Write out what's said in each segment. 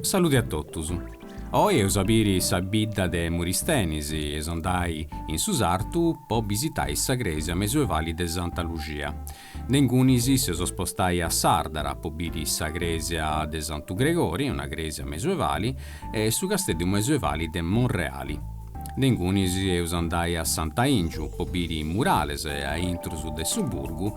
Salude a totus. Oi eus a biri sa bidda de Muristenis e eus andai in su sartu po bisitai sa crèsia mesuevali de Santa Luxia. De ingunis s'eus a spostai a Sàrdara po biri sa crèsia de Santu Gregori, una crèsia mesuevali, e su casteddu mesuevali de Monreali. De ingunis eus a andai a Santu 'Aìngiu po biri murales e a intrus de su burgu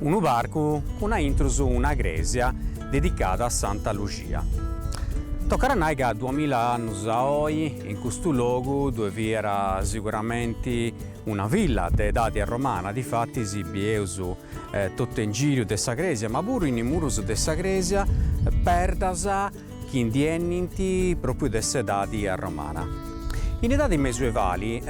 Unu parcu cun a intrus una crèsia dedicada a Santa Luxia. Tocat a nai ca duamila annus a oi in custu logu ddue fiat siguramenti una villa de edadi arromana, difatis bieus totu in giru de sa crèsia, ma puru in is murus de sa crèsia, perdas chi ndi 'enint pròpiu de s'edadi arromana. In edadi mesuevali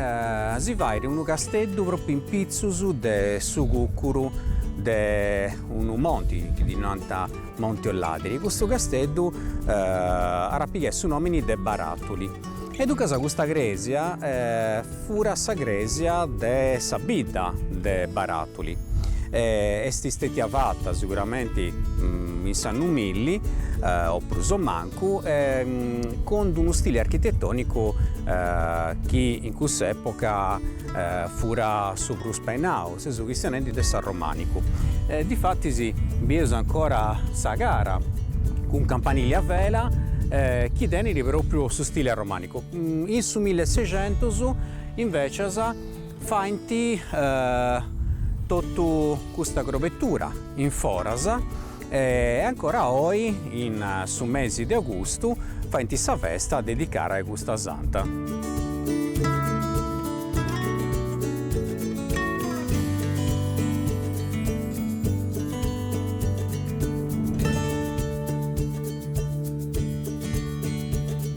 si fait unu casteddu pròpiu in pitzus de su cùcuru de unu monti, chi ddi nant Monti Olladiri, custu casteddu at a pigai su nòmini de Baratuli e duncas custa crèsia Furat sa crèsia de sa bidda de Baratuli. Est stètia fata siguramenti in s'annu milli o prus o mancu cun d'unu stile architetònicu chi in cussa època furat su prus imperau, seus chistionendi de s'arromànicu. Difatis bieus ancora sa cara cun campanili a vela chi tenit pròpriu su stile arromànicu In su mille e seicentus, invècias, faint totu custa crobetura in foras e ancora oi, in su mesi de agustu, faint sa festa dedicada a custa santa.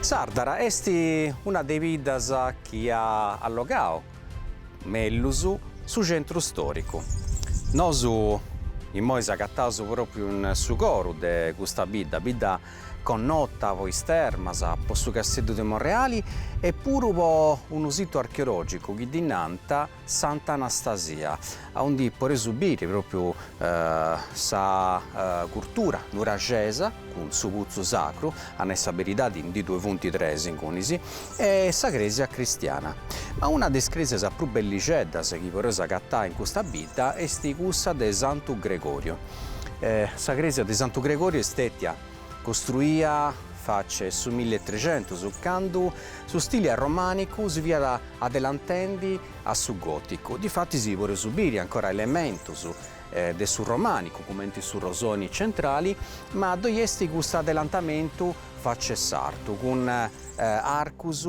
Sàrdara est una de is biddas chi at allogadu mellus su centru stòricu. Nosu imoi s'agataus pròpriu in su coru de custa bidda, bidda connota po is termas, po su Casteddu de Monreali e puru po unu situ archeològicu chi ddi nant Sant'Anastasia, aundi podeus biri pròpiu sa curtura nuraxesa cun su putzu sacru, a nai sa beridadi ndi ddue funt tres ingunis, e sa crèsia cristiana. Ma una de is crèsias prus bellixeddas chi podeus agatai in custa bidda est cussa de Santu Gregoriu. Sa crèsia de Santu Gregoriu est stètia Costruia faci a su mille e trexentus, candu su stili arromànicu si fiat adelantendi a su gòticu. Difatis si podeus biri ancora elementus de su romànicu, cumenti su rosoni centrali, ma ddoi est custu adelantamentu faci a s'artu, cun arcus,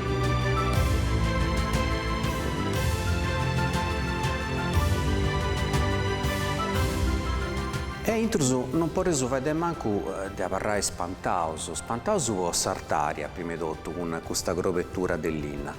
A intrus non podeus fai de mancu de abarrai spantaus, spantaus po s'artària prima 'e totu cun custa crobetura de linna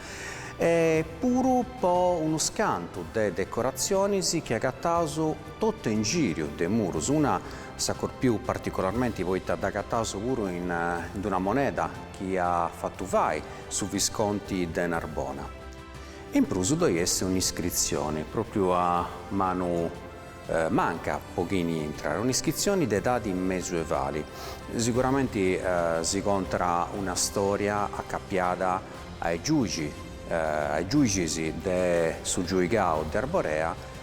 e puru po unus cantu de decoratzionis chi agataus totu in gìriu de murus, una si corpit particularmenti poita dd'agataus puru in d'una moneda chi iat fatu fai su visconti de Narbona. In prus ddoi est un'iscritzioni, pròpriu a manu manca po chini intrat, un'iscritzioni de edadi mesuevali, siguramenti si contat una stòria acapiada a is giùixis de su giuigau de Arborea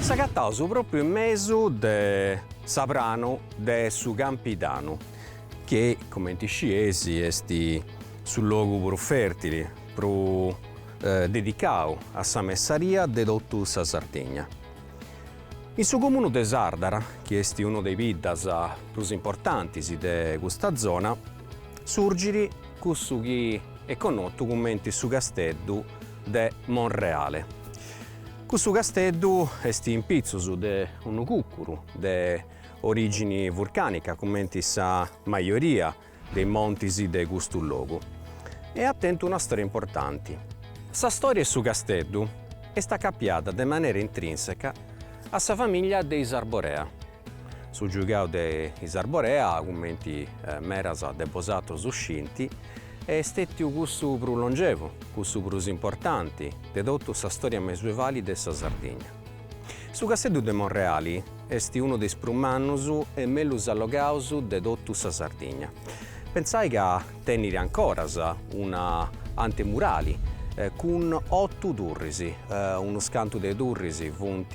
S'agataus propriu in mesu de su pranu de su Campidanu, chi comenti iscieis est su logu prus fertili, prus dedicau a sa messaria de totu sa Sardigna. In su comunu de Sardara, chi est unu de is biddas prus importantis de custa zona, surgit cussu chi est connotu cumenti su Casteddu de Monreale. Cussu casteddu est in pitzus de unu cùcuru de orìgini vurcànica cumenti sa majoria de is montis de custu logu e at tentu una stòria importanti. Sa stòria 'e su casteddu est acapiada de manera intrìnseca a sa famìllia de is Arborea. Su giugau de is Arborea, cumenti meras de bosatrus scinti, est stètiu cussu prus longevu, cussu prus importanti de totu sa stòria mesuevali de sa Sardigna. Su Casteddu de Monreali est unu de is prus mannus e mellus allogaus de totu sa Sardigna. Pentzai ca tenit ancoras una antemurali cun otu turris, unus cantu de turris funt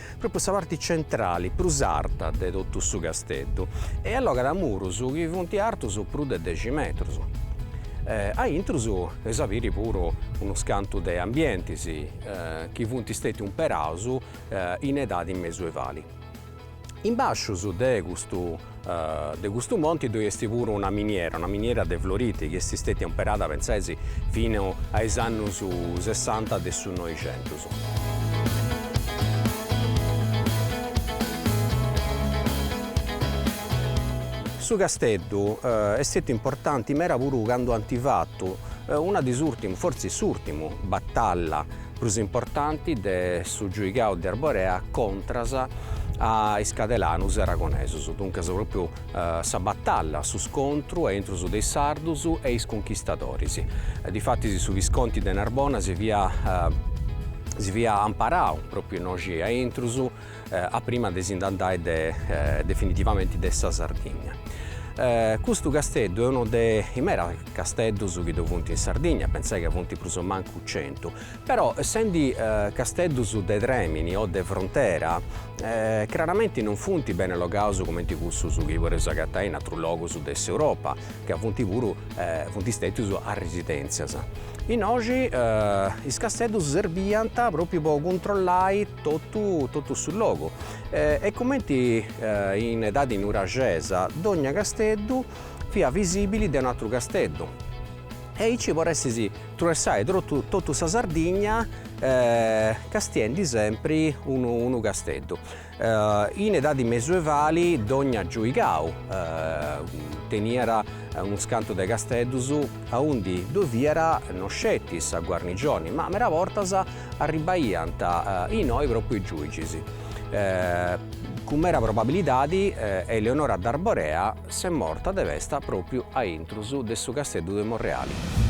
pròpriu sa parti centrali prus arta de totu su casteddu e allogat murus chi funt artus prus de dexi metrus. A intrus eus a biri puru unus cantu de ambientis chi funt stètius umperaus in edadi mesuevali. In bàsciu de custu De custu monti ddoi est puru una miniera, una miniera de floriti, chi est stètia umperada, pentzeis, fino a is annus sessanta de su Noixentus. Su casteddu est stètiu importanti meda puru candu ant fatu una de is ùrtimus, fortzis s'ùrtimu, batalla prus importanti de su giuigau de Arborea contras a is cadelanus e aragonesus, duncas propriu sa batalla, su scontru a intrus de is sardus e is cunchistadoris. Difatis su visconti de Narbona si fiat si fiat amparau propriu innoxi a intrus, a prima de si nd'andai definitivamenti de sa Sardigna. Custu casteddu est unu de is meras casteddus chi ddu funt in Sardigna, pentzai ca funt prus o mancu centu, però essendi casteddus de trèmini o de frontera craramenti non funt bene logaus cumenti cussus chi podeus agatai in atrus logus de s'Europa, ca funt puru funt stètius a residèntzias. Innoxi is casteddus serbiant pròpriu po cuntrollai Totu totu su logu. E cumenti in edadi nuraxesa dogna casteddu fiat visibili de un'atru casteddu. E aici poressis truessai totu totu sa Sardigna castiendi sempri unu unu casteddu. In edadi mesuevali dogna giuigau teniat unus cantu de casteddus aundi ddoi fiat no sceti sa guarnigioni ma meda bortas Arribbaiant innoi pròpriu is giùigis. Cun mera probabilidadi Eleonora d'Arborea s'est morta de pesta pròpriu a intrus de su Casteddu de Monreali.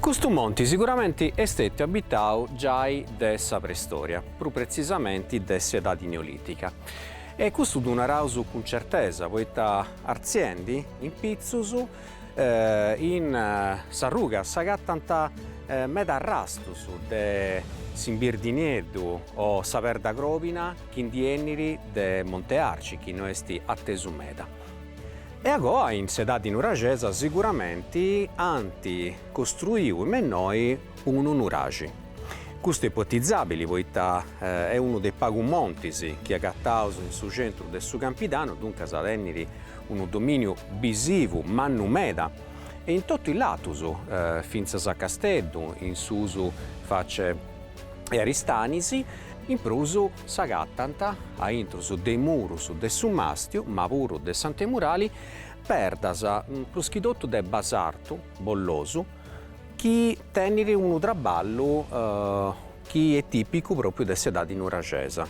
Custu monti siguramenti est stetiu abitau giai de sa Preistoria, prus pretzisamenti de s'Edadi Neolìtica. E custu ddu naraus cun certesa, poita artziendi in pitzus in sa ruga s'agatant medas arrastus de s'imbirdinieddu o sa perda crobina chi ndi 'enit de Monte Arci, chi no est atesu meda. E agoa in s'edadi nuraxesa siguramenti ant costruiu in mennoi unu nuraxi. Custu est ipotizabili poita est unu de is pagus montis chi agataus in su centru de su Campidanu, duncas tenit unu dominiu bisivu mannu meda e in totu is latus, fintzas a Casteddu, in susu face 'e Aristanis, in prus s'agatant a intrus de is murus de su Mastiu, ma puru de s'Antemurali, perdas, prus chi totu de basartu bollosu, chi tenit unu traballu chi est tìpicu pròpriu de s'edadi nuraxesa.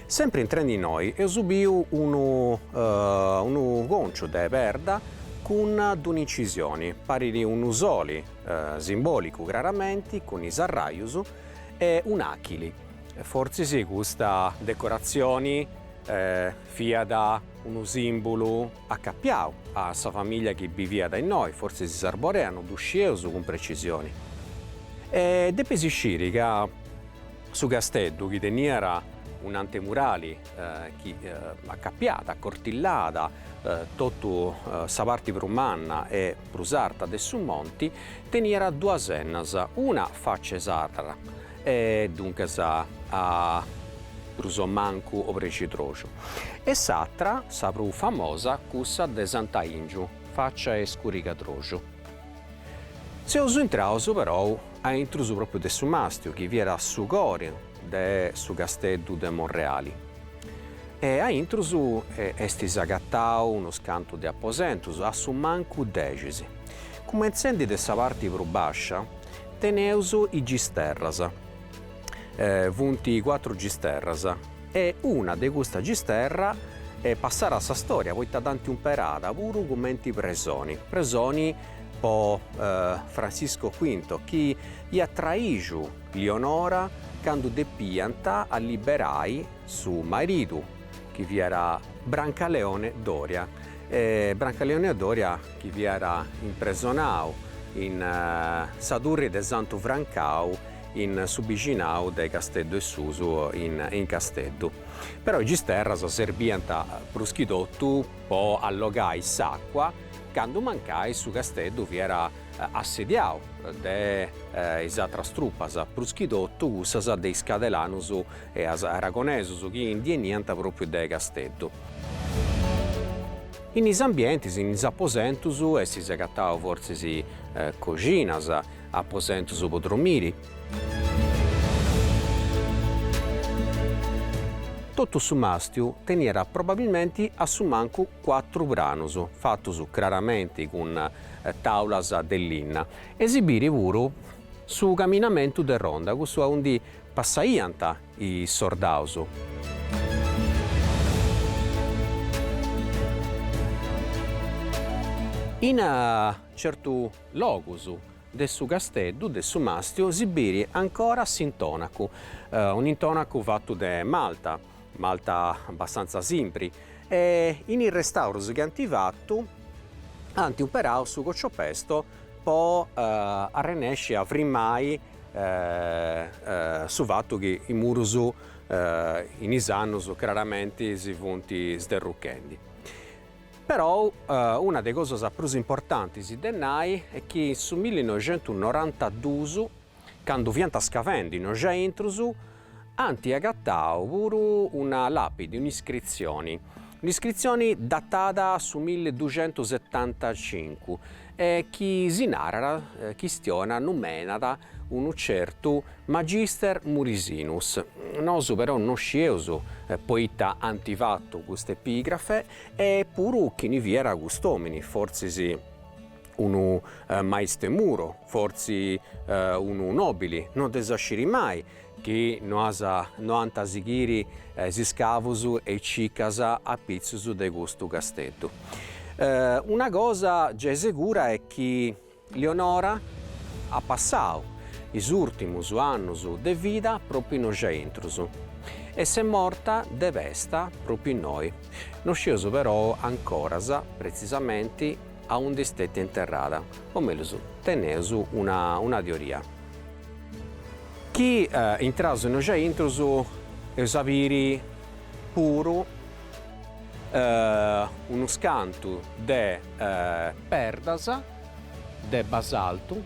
Sempri intrendi innoi eus biu unu unu cònciu de perda cun d'un'incisioni, parit unu soli, simbòlicu craramenti, cun is arrajus, e un'àchili. Fortzis custa decoratzioni fiat unu sìmbulu acapiau a sa famìllia chi biviat innoi, fortzis is Arborea, no ddu scieus cun precisioni. E depis isciri ca su casteddu, chi teniat un'antemurali chi acapiat, acortillat, totu sa parti prus manna e prus arta de su monti, teniat duas ennas, una faci 'e Sàrdara E duncas a prus o mancu obrescidroxu. E s'atra, sa prus famosa, cussa de Sant'Aìngiu, faccia 'e scurigadroxu. Seus intraus perou a intrus pròpriu de su mastiu, chi fiat su cori de su Casteddu de Monreali. E a intrus est s'agatau unus cantus de aposentus, a su mancu dexis. Cumentzendi de sa parti prus bàscia. Teneus is gisterras. Funt cuatru gisterras e una de custa gisterra est passada a sa storia poita dd'ant umperada puru cumenti presoni, presoni po Francisco Squinto chi iat traiju Lionora candu depiant alliberai su maridu chi fiat Brancaleone Doria e Brancaleone Doria chi fiat impresonau in sa turri de Santu Francau in su bixinau de Casteddu 'e Susu in Casteddu. Però is gisterras serbiant prus chi totu po allogai s'àcua candu mancai su Casteddu fiat assediau de is atras trupas, prus chi totu cussas de is cadelanus e is aragonesus chi ndi 'eniant pròpriu de Casteddu. In is ambientis, in is aposentus, est s'agatau fortzis coxinas, aposentus po dromiri. Totu su mastiu teniat probabilmenti a su mancu cuatru pranus, fatus craramenti cun tàulas de linna, e si bit puru su caminamentu de ronda, cussu aundi passaiant Is sordaus. In certu logus de su casteddu de su Mastiu si biri ancora s'intonacu, un'intonacu fatu de malta, malta abbastanza simpri, e in is restaurus chi ant fatu ant umperau su cocciopesto po arrennesci a frimmai su fatu chi is murus in is annus craramenti si funt sderruchendi. Perou una de is cosas prus importantis de nai est chi in su millinoixentusnorantaduus, candu fiant scavendi innoi aintrus, ant agatau puru una làpidi, un'iscritzioni, un'iscritzioni datada a su milli duxentus setantacincu e chi si narat chistionat numenat unu certu Magister Murisinus. Nosu però no scieus poita ant fatu cust'epigrafe e puru chini fiat cust'òmini, fortzis unu maistu 'e muru, fortzis unu nòbili, no dd'eus a sciri mai, chi no as no ant a sighiri is iscavus e is circas a pitzus de custu casteddu. Una cosa gei segura est chi Leonora at passau is ùrtimus annus de vida propriu innoi intrus e s'est morta de pesta propriu innoi. No scieus perou ancoras pretzisamenti aundi est stètia interrada, o mellus teneus una una teoria. Chi intraus innoi aintrus eus a biri puru unus cantu de perdas de basaltu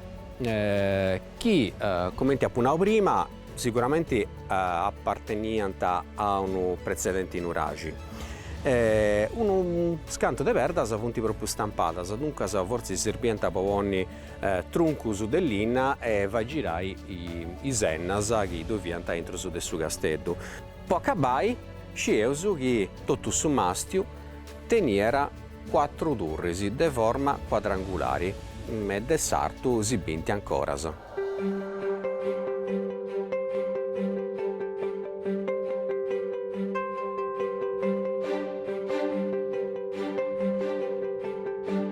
chi cumenti apu nau prima siguramenti aparteniant a unu pretzedenti nuraxi e unus cantu de perdas funt propriu stampadas duncas fortzis sirbiant po ponni truncus de linna e fai girai is sennas chi ddoi fiant aintrus de su casteddu. Po acabai, scieus chi totu su mastiu teniat cuatru turris de forma cuadrangulari e de s'artu si binti ancoras.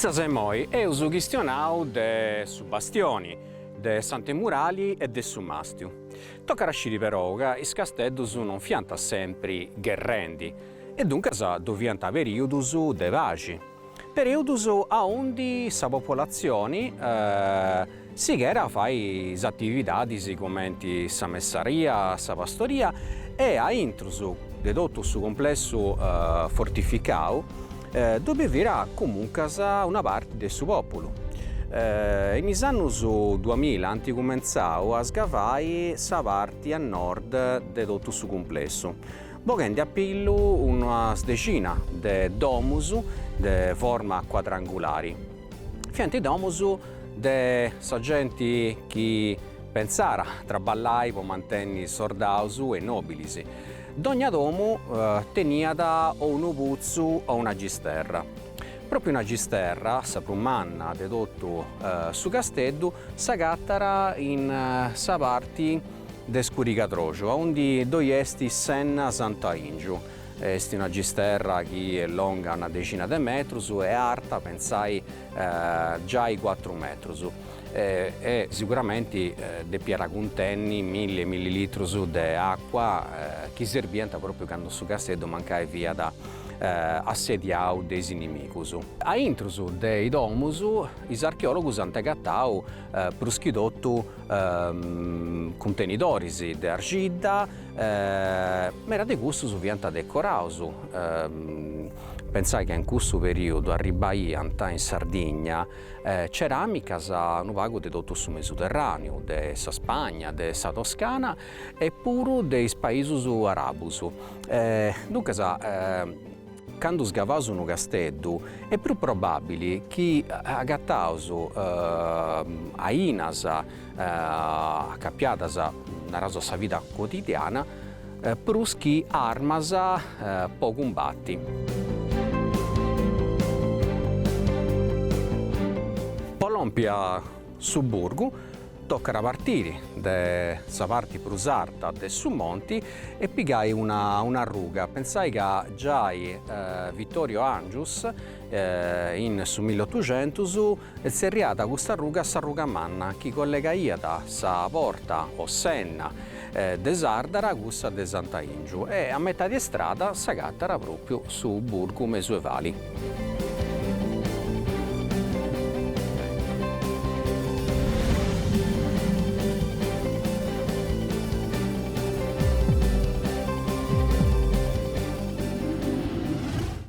Fintzas a immoi eus chistionau de su bastioni, de s'antemurali e de su màstiu. Tocat a sciri perou ca is casteddus non fiant sempri gherrendi e duncas ddu fiant perìudus de paxi. Perìudus aundi sa populatzioni sighiat a fai is atividadis cumenti sa messaria, sa pastoria e a intrus de totu su cumplessu fortificau ddu bivìat comuncas una parti de su pòpulu. In is annus duamilla ant cumentzau a sgavai sa parti a nord de totu su cumplessu, boghendi a pillu unas dexina de domus de forma cuadrangulari. Fiant domus de sa genti chi pensàt a traballai po mantenni sordaus e nòbilis. Dogna domu teniat o unu putzu o una gisterra. Pròpiu una gisterra, sa prus manna de totu su casteddu, s'agatàt in sa parti de Scurigadroxu, aundi ddoi est s'enna Sant'Aìngiu. Est una gisterra chi est longa una dexina de metrus e arta, pensai, giai cuatru metrus. E siguramenti depiat cuntenni milli e milli litrus de acua chi serbiant pròpriu candu su casteddu mancai fiat assediau de is inimigus. A intrus de is domus is archeòlogus ant agatau prus chi totu cuntenidoris de argidda, meda de cussos fiant decoraus, pensai ca in cussu perìodu arribbaiant in Sardigna ceràmicas unu pagu de totu su Mesuterràneu, de sa Spagna, de sa Toscana e puru de is paisus àrabus, duncas Candu sgavaus unu casteddu est prus probàbili chi agataus ainas acapiadas, naraus, a sa vida cotidiana prus chi armas po cumbati. Po lompi a. Su burgu tocat a partiri de sa parti prus arta de su monti e pigai una un'arruga, pensai ca giai Vittorio Angius in su mill'otuxentus tzerriat custa arruga s'arruga manna chi collegaiat sa porta o s'enna de Sardara cussa de Santu Aìngiu e a metadi 'e istrada s'agatara pròpiu su burgu mesuevali.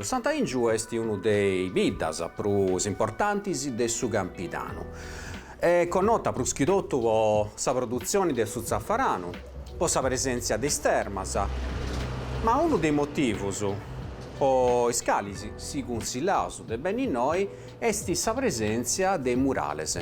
Santu Aìngiu est unu de is biddas prus importantis de su Campidanu. Est connota prus chi totu po sa produtzioni de su tzafaranu, po sa presèntzia de is termas, ma unu de is motivus po is calis si cunsillaus de benni innoi est sa presèntzia de murales.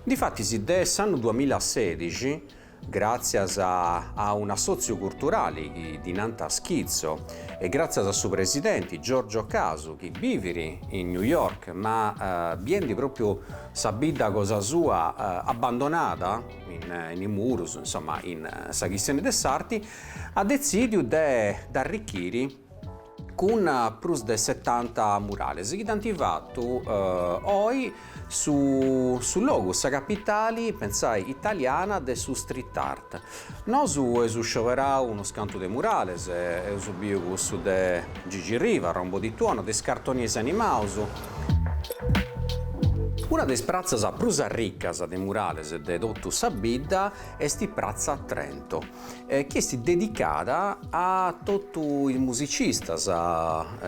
Difatis, de s'annu duamilla e sedixi Gràtzias a un'assòtziu culturali chi ddi nant Skizzo e gràtzias a su presidenti Giorgio Casu chi bivit in New York ma biendi pròpiu sa bidda cosa sua abbandonada in is murus, insoma in sa chistioni de s'arti, at detzìdiu de dd'arrichiri. cun prus de setanta murales chi dd'ant fatu oi su su logu, sa capitali, pensai italiana, de su street art. Nosu eus scioberau unus cantu de murales, eus biu cussu de Gigi Riva, Rombo di Tuono, de is cartonis animaus. Una de is pratzas prus arricas de murales de totu sa bidda esti Pratza Trento. chi est dedicada a totu is musicistas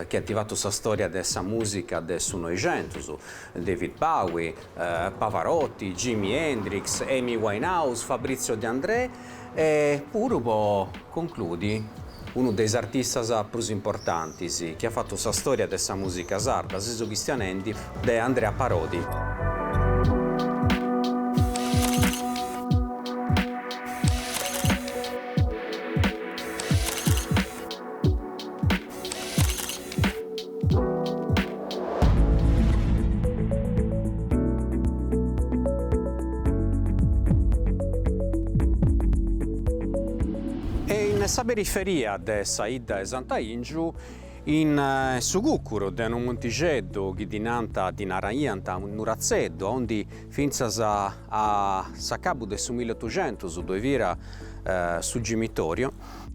chi ant fatu sa storia de sa musica de su Noixentus, David Bowie, Pavarotti, Jimi Hendrix, Amy Winehouse, Fabrizio De André e puru po concludi unu de is artistas prus importantis chi at fatu sa storia de sa musica sarda, seus chistionendi, de Andrea Parodi. E in sa periferia de sa 'idda 'e Santu Aìngiu In su cucuru de unu muntixeddu chi ddi nant, ddi naraiant, Nuratzeddu, aundi fintzas a s'acabu de su milleotuxentus ddoi fiat su gimitoriu,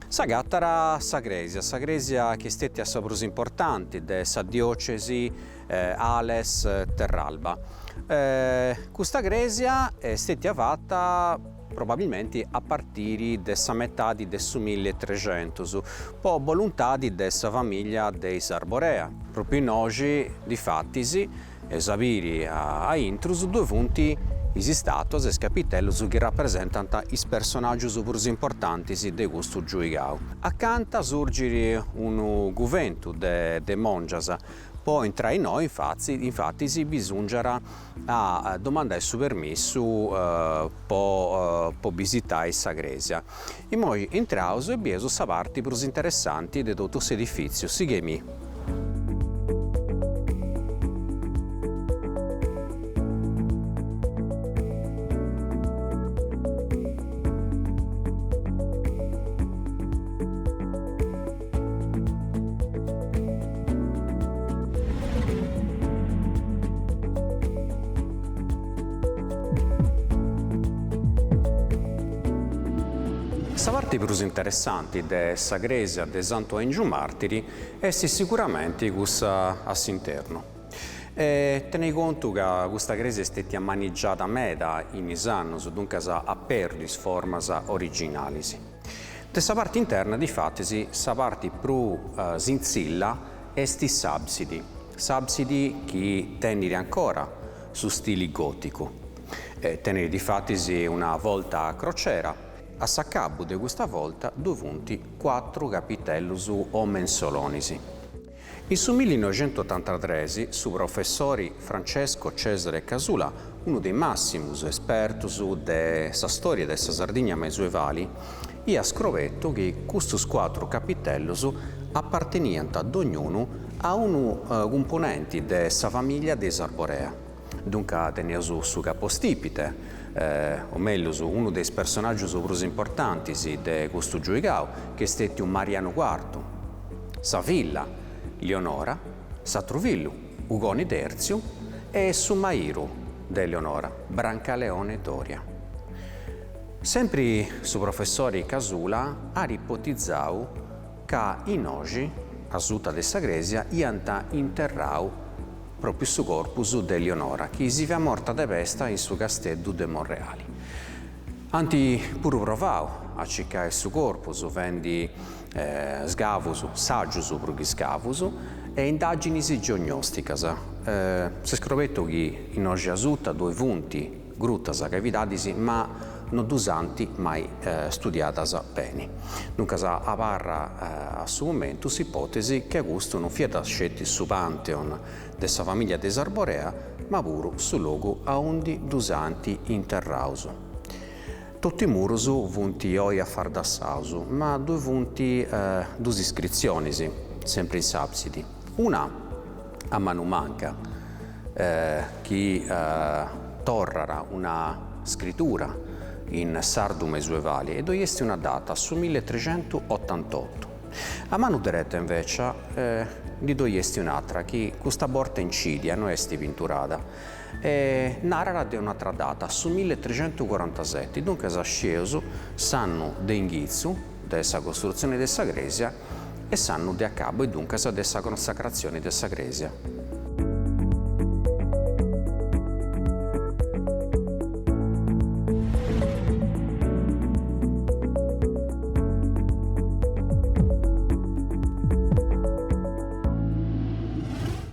s'agatara sa crèsia, sa crèsia chi est stètia sa prus importanti de sa diòcesi Ales-Terralba. Custa crèsia est stètia fata probabilmenti a partiri de sa metadi de su milli e trecentus, po boluntadi de sa famìllia de is Arborea. Pròpriu innoxi, difatis, eus a biri a intrus, ddue funt is istàtuas e is capitellus chi rapresentant is personàgius prus importantis de custu giuigau. Acanta surgit unu cuventu de mòngias, po intrai innoi difatis bisùngiat A domandai su permissu po bisitai sa crèsia. Imoi intraus e bieus sa parti prus interessanti de totu s'edifìtziu, sighei·mì. Sa parti prus interessanti de sa crèsia de Santu 'Aìngiu Màrtiri est siguramenti cussa a s'internu. Tenei contu ca custa crèsia est stètia manigiada meda in is annus, duncas at pèrdiu is formas originalis. De sa parti interna, difatis, sa parti prus sintzilla est s'àbsidi, s'àbsidi chi tenit ancora su stili gòticu, tenit difatis una volta a crociera, a s'acabu de custa volta ddui funt cuatru capitellus o mensolonis. In su millinoixentotantatres su professori Francesco Cesare Casula, unu de is màssimus espertus de sa stòria de sa Sardigna mesuevali, iat scobertu chi custus cuatru capitellus aparteniant dognunu a unu cumponenti de sa famìllia de is Arborea. Dunca teneus su capostipite, o mellus unu de is personaggius prus importantis de custu giuigau, ch'est stètiu Marianu Cuartu, sa filla, Leonora, s'atru fillu, Ugoni Tertziu, e su mairu de Leonora, Brancaleone Doria. Sempri su professori Casula at ipotizau ca innoxi, asuta de sa crèsia, iant interrau, pròpiu su corpus de Eleonora chi si fiat morta de pesta in su casteddu de Monreali. Ant puru provau a circai su corpus fendi scavus, sàgius prus chi scavus, e indàginis geognòsticas. S'est scobertu chi innoxi asuta ddoi funt, Grutas, cavidadis, ma no ddus ant mai studiadas beni. Duncas abarra a su momentu s'ipòtesi chi custu non fiat sceti su pantheon de sa famìllia de is Arborea ma puru su logu aundi ddus ant interraus. Totu is murus funt oi afardassaus ma ddoi funt duas iscritzionis, sempri in s'àbsidi, una, a manu manca, chi torrat una scritura in sardu mesuevali e ddoi est una data, su mille e trecentu otantotu. A manu dereta invècia ndi ddoi est un'atra chi custa borta incidia, no est pinturada, e narat de un'atra data, su mille e trecentu corantaseti, duncas scieus s'annu de inghitzu, de sa costrutzione de sa crèsia e s'annu de acabu e duncas de sa consacratzione de sa crèsia.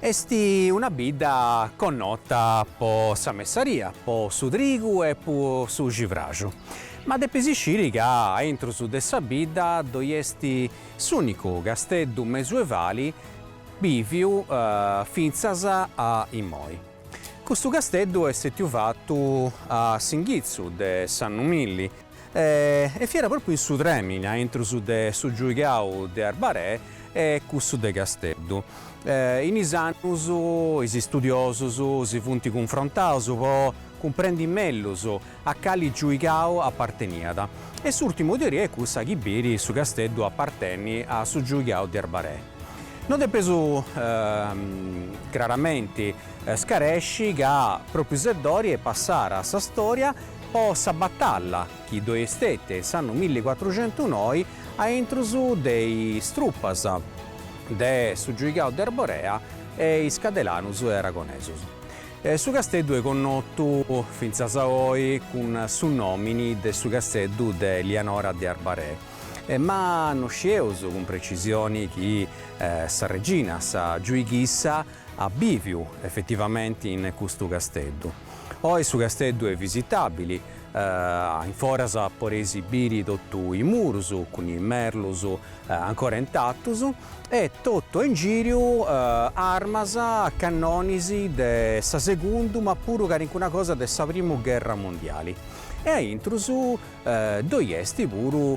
Est una bidda connota po sa messaria, po su trigu e po su civraxu. Ma depis isciri ca a intrus de sa bidda ddoi est s'unicu casteddu mesuevali biviu fintzas a immoi. Custu casteddu est stètiu fattu a s'inghitzu de s'annu milli. E fiat pròpiu in su trèmini a intrus de su giuigau de Arbarè e cussu de Casteddu. In is annus is istudiosus si funt cunfrontaus po cumprendi mellus a cali giuigau aparteniat e s'ùrtimu teoria est cussa chi biri su casteddu aparteni a su giuigau de Arbarè. No depeus craramenti scaresci ca pròpiu Seddori est passada a sa stòria po sa batalla chi ddoi est stètia in s'annu milli cuatruxentu noi a intrus de is trupas de su giuigau de Arborea e is cadelanus e aragonesus. Su casteddu est connotu fintzas a oi cun su nòmini de su casteddu de Lianora de Arbarè, ma no scieus cun precisioni chi sa regina, sa giuighissa, at bìviu efetivamenti in custu casteddu. Oi su casteddu est visitabili a in foras podeis biri totu is murus cun is merlus ancora intatus e totu a ingìriu armas, cannonis de sa segundu ma puru calincuna cosa de sa primu gherra mundiali e a intrus ddoi est puru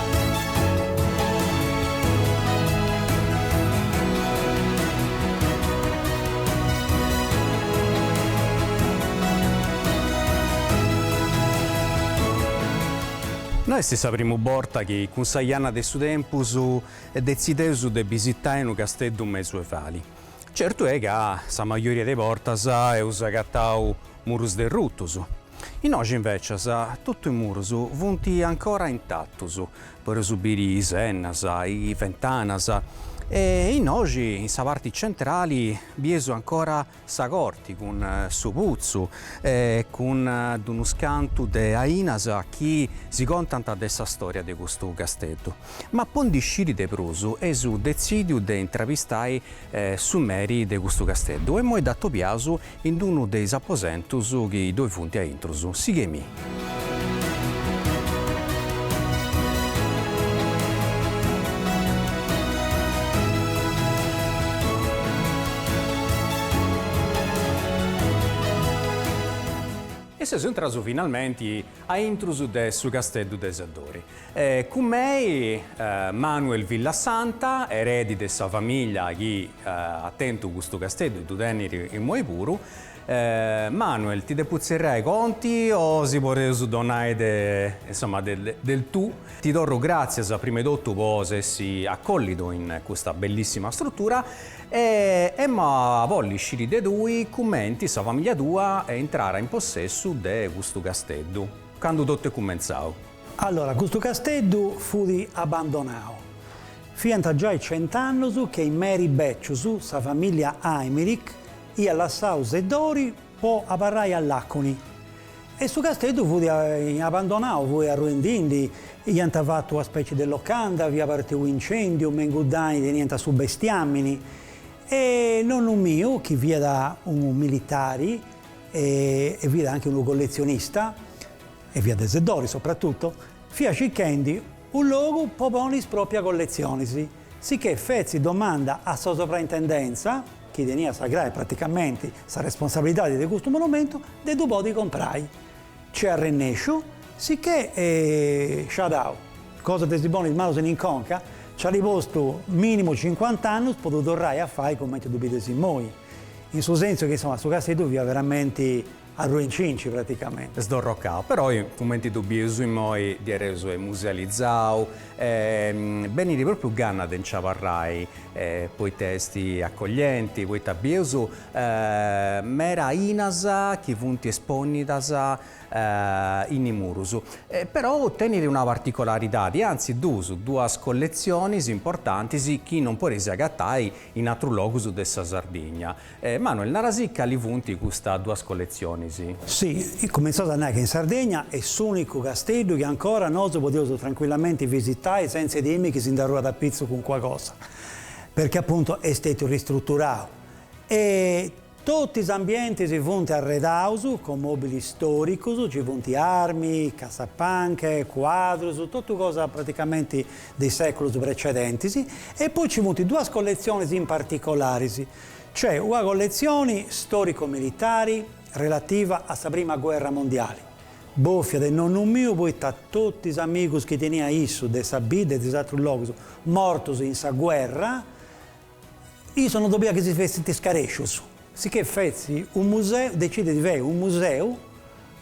No est sa primu borta chi cun sa janna de su tempus detzideus de bisitai unu casteddu medievali. Certu est ca sa majoria de bortas eus agatau murus derrutus. Innoi invècias totu is murus funt ancora intatus, podeus biri is ennas, is fentanas e innoi in sa parti centrali bieus ancora sa corti cun su putzu e cun d'unus cantus de ainas chi si contant de sa storia de custu casteddu. Ma po ndi sciri de prus eus detzìdiu de intravistai su meri de custu casteddu e moi dd'atopiaus in d'unu de is aposentus chi ddoi funt a intrus. Sigheimì. E seus intraus finalmenti a intrus de su casteddu de Seddori. E cun mei Manuele Villasanta, eredi de sa famiglia chi at tentu custu casteddu ddu tenit immoi puru. Manuel, ti depu tzerrai conti o si podeus donai insoma del tu? Ti torru gràtzias prima 'e totu po s'essi acollidu in custa bellissima struttura e emu a bolli sciri de tui cumenti sa famiglia tua est intrara in possessu de custu casteddu, candu totu est cumentzau. Allora, custu casteddu fut abandonau. Fiant giai cent'annus chi is meris bècius sa famìllia Aymerich iat lassau Seddori po abarrai a Làconi e su casteddu fut abandonau, fut arruendindi, iant fatu una spècie de locanda, fiat partiu u' incèndiu, me in cuddei teniant su bestiàmini e nonnu miu, chi fiat unu militari e fiat anche unu colletzionista, e fiat de Seddori sopratutu, fiat circhendi unu logu po poni is pròpia colletzionis, sicchè fetzi domanda a sa Sovraintendentza, chi teniat sa crai e praticamenti sa responsabilidadi de custu monumentu, de ddu podi comprai. Nc'est arrennesciu, sicchè sciadau, cosa de si poni is manus in conca, nc'at postu minimu cincuant'annus po ddu torrai a fai cumenti ddu bides immoi, in su sentzu chi insoma su casteddu fiat veramenti, Arruinci-nci praticamenti. Sdorrocau. Però, cumenti ddu bius imoi diaderus est musealizau, benit propriu ganna de nci abarrai, poita est acoglienti, poita bius meda ainas chi funt esponidas in murus. Però tenit una particolaridadi, anzi duas, duas colletzionis importantis chi non podeis agatai in atrus logus de sa Sardigna. Manuel, narasì cali funt custas duas colletzionis? Si, cumentzaus a nai ca in Sardegna est s'ùnicu Casteddu chi ancora nosu podeus trancuillamenti visitai sentza e timi chi si nd'arruat a pitzu cuncua cosa, perchè apuntu est stètiu ristruturau e totu is ambientis funt arredaus cun mòbilis stòricus, nci funt armi, cassapanche, cuadrus, totu cosa praticamenti de is sèculus precedentis, e poi nci funt duas colletzionis in particolaris. Cioè una colletzioni storico-militari relativa a sa prima guerra mondiali, bòfia de nonnu miu poita totu is amigus chi tenia issu de sa bidda e de is atrus logus mortus in sa guerra, issu non boliat chi si fessint scarescius. Sicchè fetzit u museu, decidit de fai u museu.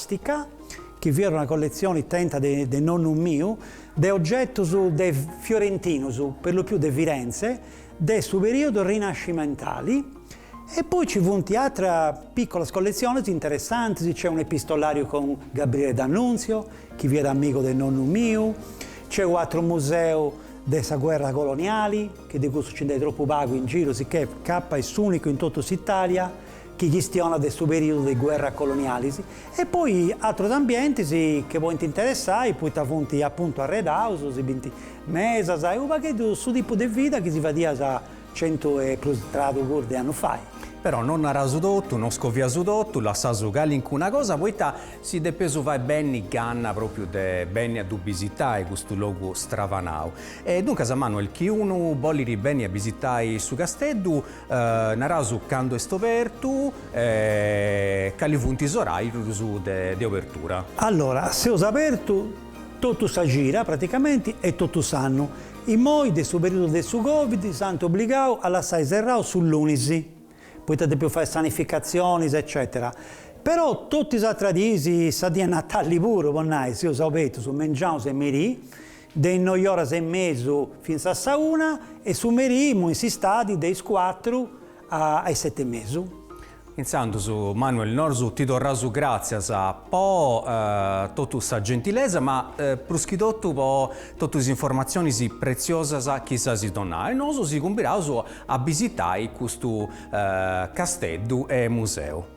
Sticà, chi fiat una colletzioni tenta de nonnu miu, de ogetus de fiorentinus, per lo più de Firenze, de su periodo rinascimentali, e poi ci funt atera picolas colletzionis interessantis, nc'est un epistolariu cun Gabriele D'Annunzio, chi fiat amigu de nonnu miu, nc'est u ateru museu de sa guerra coloniali, chi de cussu nci nd'est tropu pagu in giru, sicchè capat est s'unicu in totu s'Italia, chi chistionat de su perìodu de guerras colonialis, e poi atrus ambientis che podint interessai poita funt apuntu arredaus, si bint mesas e unu pagheddu su tipu de vida chi si fadiat centu e prus tradu puru de annus fai. Però non naraus totu, non scoviaus totu, lassaus calincuna cosa poita si depeus fai benni ganna propriu de benni a ddu bisitai custu logu stravanau. E duncas Manuel chi unu bolit benni a bisitai su Casteddu Naraus candu est obertu e cali funt is oràrius de obertura. Allora, seus abertu totu sa cida, praticamenti, e totu s'annu. Immoi, de su perìodu de su Covid, s'ant obligau a lassai serrau su lunis, poita depiaus fai sanificatzionis eccètera. Però totu is atras diis, sa dì 'e Natali puru, po nai, seus abertus, mengiaus e merì, de is noi oras e mesu fintzas sa una e su merì immoi in s'istadi de is cuatru a is sete e mesu. Intzandus Manuel nosu ti torraus gràtzias po totu sa gentilesa ma prus chi totu po totu is informatzionis pretziosas chi s'as donau e nosu si cumbidaus a bisitai custu casteddu e museu.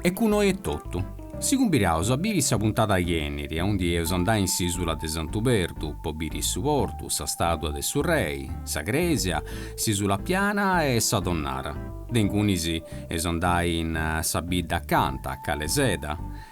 E cun oi est totu. Si cumbiraus a biri sa puntada chi benit, aundi eus andai in s'isula de Santu Perdu po biri su portu, sa stàtua de su Rei, sa crèsia, s'Isula Piana e sa tonnara. De ingunis eus andai in sa bidda acanta, a Calaseda,